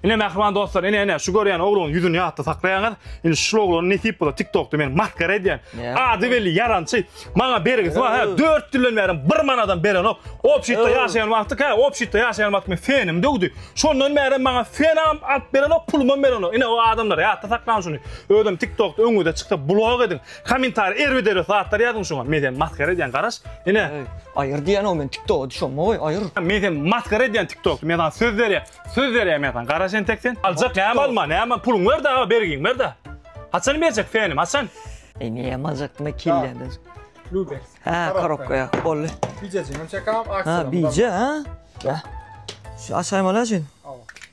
Ine mähriban dostlar, ine ine şu görýän ogluň ýüzüni ýatda saklaýaňyz. Ine şu oglan nesip bolsa TikTokda men maskara edýän. Ady belli ýarançy. Maňa bergisi bar. Hä, 4 ýyldan bäri bir manadam berenok. Obşitde ýaşaýan wagty, hä, obşitde ýaşaýan wagty men fenim döwdi. Şondan bäri maňa fenam alyp berenok, pulumam berenok. Ine o adamlar ýatda saklaň şuny. Özem TikTokda öňüňize çyksa blog ediň. Komentariýa erbet erbet zatlar ýazyň şoňa men seni masgara edýän garaş ine. Aýyr diýen o men tiktoga düşemmi goý aýyr. Men seni masgara edýän tiktokda men saňa söz berýän söz berýän men saňa garaş entek sen aljak näme alma näme puluň ber da bergiň ber da haçan berjek fenim haçan. Eneýem aljakdyma kelläňdir. Lubeks. Hä korobkaýa boldy. Bijejigem çekam aksiýa. Hä bije hä. Şu açaýmaly şuny.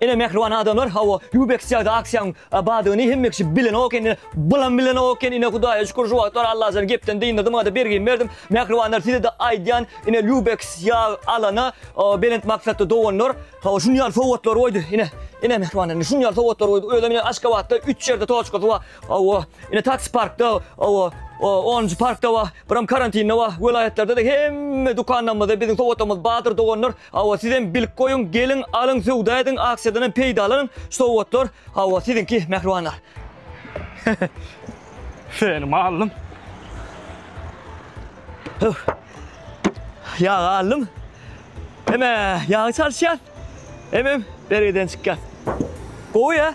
Ene mähriban adamlar hawa Yubex çagda aksiýaň badyny hemme kişi bilenok indi bulam bilenok eken ine hudaýa şükür şu wagtlar Allajan gepden dyndyrdy maňada bergimi berdim mähribanlar sizede aýdýan ine Yubex ýag alana belent maksatly doganlar hawa şunýaly sowgatlar goýdy ine ene mähribanlar indi şunýaly sowgatlar goýdy özem ine Aşgabatda üç ýerde toçkasy bar Hawa, ine taksi parkda, hawa, onunjy parkda bar, biram karantinde bar, welaýatlarda-da hemme dükanlarymyzda biziň sowgatlarymyz bardyr doganlar. Hawa, sizem bilip goýuň, geliň, alyň, söwda ediň, aksiýadan hem peýdalanyň, sowgatlar, hawa, siziňki, mähribanlar. Seni mallym. Ýag aldym. Heme, ýagy çalyşýar. Hemem bergiden çykýas. Gowy ya.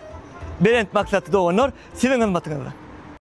Belent maksatly doganlar siziň hyzmatyňyzda.